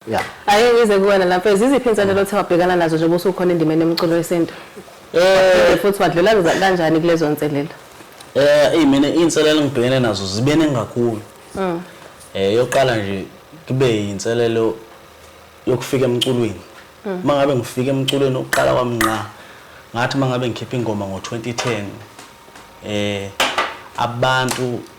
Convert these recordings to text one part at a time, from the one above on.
Yeah. Ake ngize kuwena lapha ziziphi inselelo othe wabhekana nazo njengoba usukhona endimeni yomculo wesintu? Eh futhi wadlula kanjani kulezo nselelo? Eh hey mina inselelo ngibhekene nazo zibene ngakhulu. Mm. Eh yoqala nje kube inselelo yokufika emculweni. Mm. Mangabe ngifika emculweni oqala kwami nqa ngathi mangabe ngikhipha ingoma ngo 2010 eh abantu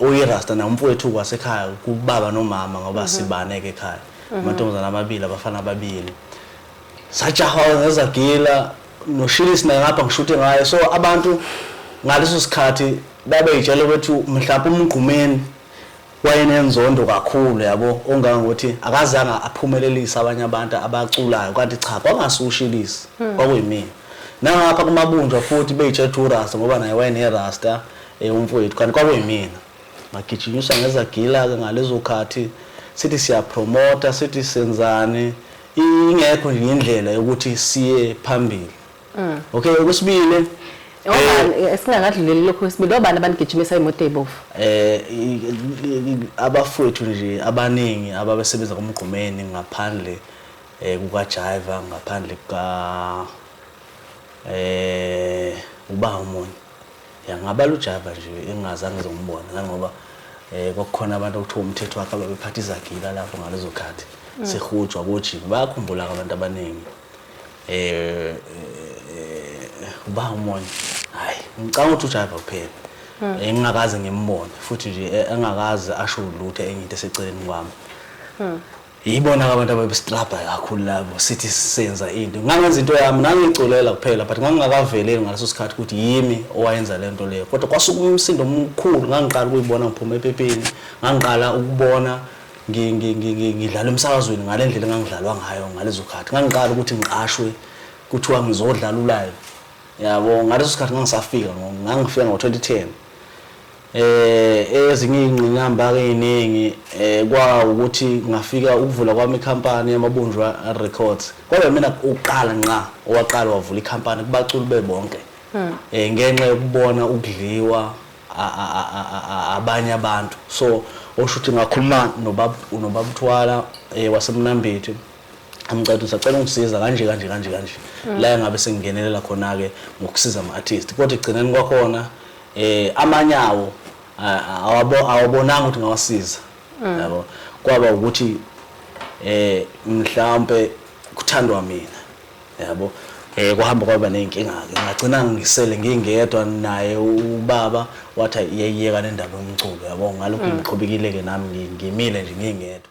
Uyirasta naye umfowethu kwasekhaya kubaba nomama ngoba mhm. sibane ke ekhaya. Mhm. Amantombazana amabili abafana ababili. Sajahwa ngezagila noshilisi naye ngapha ngishuthe ngaye so abantu ngaleso sikhathi babeyitshela ukuthi mhlawumbe umgqumeni wayenenzondo kakhulu yabo ongangokuthi akazange aphumelelise abanye abantu abaculayo kanti cha kwangasushilisi hmm. kwakuyimina nangapha kumabunjwa futhi beyitshetha urasta ngoba naye wayenerasta Eh umfowethu kanti kwakuyimina. Ngagijinyiswa ngezagila ke ngalezo khathi sithi siyapromota sithi senzani ingekho nje indlela yokuthi siye phambili. Mm. Okay okwesibili Obani eh, esingakadluleli lokho kwesibili obani abanigijimisa imoto ezibovu? Eh abafowethu nje abaningi ababesebenza kumgqumeni ngaphandle eh kuka Jaiva ngaphandle kuka eh uba umunye Ya ngabala uJava nje engingazange ngizombona nangoba eh kwakukhona abantu okuthiwa umthetho wakhe ababephatha izagila lapho ngalezo khathi mm. sehujwa kojini bayakhumbula abantu abaningi eh, eh uba umoya hayi ngicanga ukuthi uJava kuphela mm. eh, engingakaze ngimbone futhi nje eh, engakaze asho lutho engithi eseceleni kwami mm. Yibona ke abantu ababestrabha kakhulu labo sithi senza into. Ngangenza into yami ngangiculela kuphela but ngangingakaveleli ngaleso sikhathi ukuthi yimi owayenza le nto leyo. Kodwa kwasuka umsindo omkhulu ngangiqala ukuyibona ngiphuma epepeni, ngangiqala ukubona ngidlala emsakazweni ngale ndlela engangidlalwa ngayo ngalezo khathi. Ngangiqala ukuthi ngiqashwe kuthiwa ngizodlala ulive. Yabo ngaleso sikhathi ngangisafika ngangifika ngo-2010. Eh ezinye ingqinamba ke iningi eh kwa ukuthi ngafika ukuvula kwami ikhampani yamabunjwa records kodwa mina uqala nqa owaqala wavula ikhampani kubaculi bebonke hmm. eh ngenxa yokubona ukudliwa abanye abantu so osho ukuthi ngakhuluma nobaba nobaba uthwala eh wasemnambithi amcela sacela ungisiza kanje kanje kanje kanje hmm. la ngabe sengingenelela khona ke ngokusiza ama artist kodwa igcineni kwakhona eh amanye awo awabonanga ukuthi ngawasiza mm. yabo kwaba ukuthi eh mhlawumbe kuthandwa mina yabo eh kuhamba kwaba nezinkinga ke ngagcina ngisele ngingedwa naye ubaba wathi yeyeka nendaba yomculo yabo ngalokho mm. ngiqhubekile ke nami ngimile nje ngingedwa